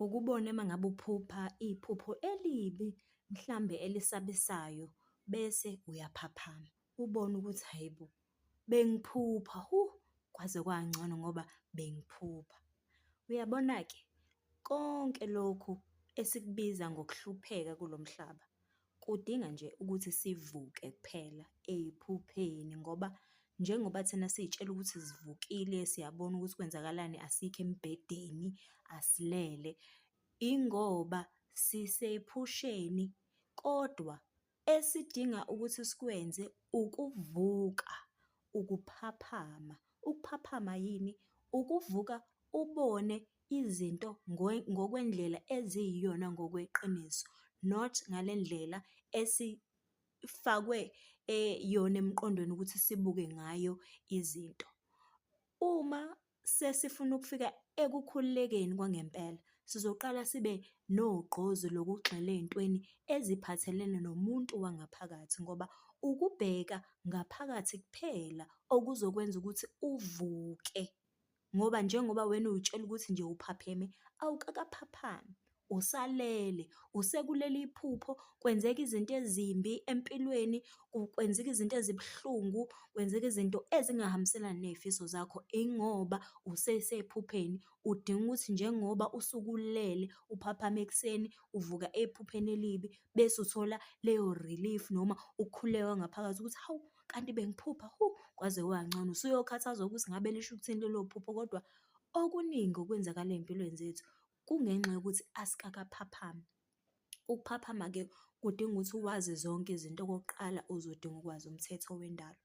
Ukubona uma ngabe uphupha iphupho elibi mhlambe elisabisayo bese uyaphaphama, ubone ukuthi hhayi bo bengiphupha kwaze kwangcono ngoba bengiphupha. Uyabona-ke konke lokhu esikubiza ngokuhlupheka kulo mhlaba Kudinga nje ukuthi sivuke kuphela ey'phupheni ngoba njengoba thina siy'tshela ukuthi sivukile, siyabona ukuthi kwenzakalani, asikho embhedeni, asilele. Ingoba sisephusheni kodwa esidinga ukuthi sikwenze ukuvuka, ukuphaphama. Ukuphaphama yini? Ukuvuka ubone izinto ngokwendlela eziyiyona ngokweqiniso not ngale ndlela esifakwe yona emqondweni ukuthi sibuke ngayo izinto. Uma sesifuna ukufika ekukhululekeni kwangempela, sizoqala sibe nogqozi lokugxila ey'ntweni eziphathelene nomuntu wangaphakathi ngoba ukubheka ngaphakathi kuphela okuzokwenza ukuthi uvuke. ngoba njengoba wena uy'tshela ukuthi nje uphapheme, awukakaphaphami, usalele, usekulele iphupho, kwenzeka izinto ezimbi empilweni, kwenzeka izinto ezibuhlungu, kwenzeka izinto ezingahambiselani ney'fiso zakho, ingoba usesephupheni, udinga ukuthi njengoba usuke ulele, uphaphame ekuseni, uvuka ephupheni elibi, bese uthola leyo-relief noma ukukhuleka ngaphakathi ukuthi hawu. kanti bengiphupha hu kwaze kwancono usuyokhathazwa ukuthi ngabe lisho ukuthini lelo phupho kodwa okuningi okwenzakala ey'mpilweni zethu kungenxa yokuthi asikakaphaphami. Ukuphaphama-ke kudinga ukuthi uwazi zonke izinto okokuqala uzodinga ukwazi umthetho wendalo.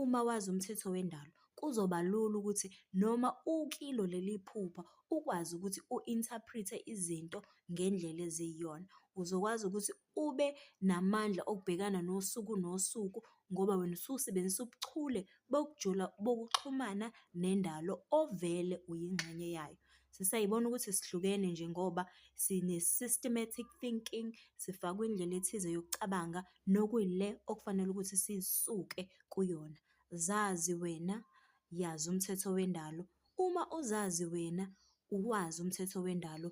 Uma wazi umthetho wendalo kuzoba lula ukuthi noma ukilo leli phupha ukwazi ukuthi u-interpret-e izinto ngendlela eziyiyona. Uzokwazi ukuthi ube namandla okubhekana nosuku nosuku ngoba wena usuke usebenzisa ubuchule bokujula bokuxhumana nendalo ovele uyingxenye yayo. Sesiyayibona ukuthi sihlukene nje ngoba sine-systematic thinking, sifakwe indlela ethize yokucabanga nokuyile okufanele ukuthi sisuke kuyona. Zazi wena, yazi umthetho wendalo. Uma uzazi wena, uwazi umthetho wendalo,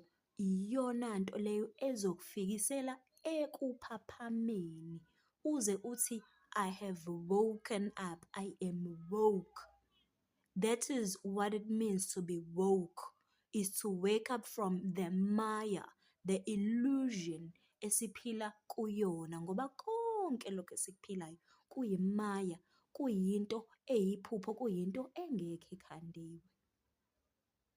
Iyona nto leyo ezokufikisela ekuphaphameni uze uthi I have woken up, I am woke. That is what it means to be woke, is to wake up from the maya, the illusion esiphila kuyona ngoba konke lokhu esikuphilayo kuyimaya, kuyinto eyiphupho, kuyinto engekho ekhandiwe.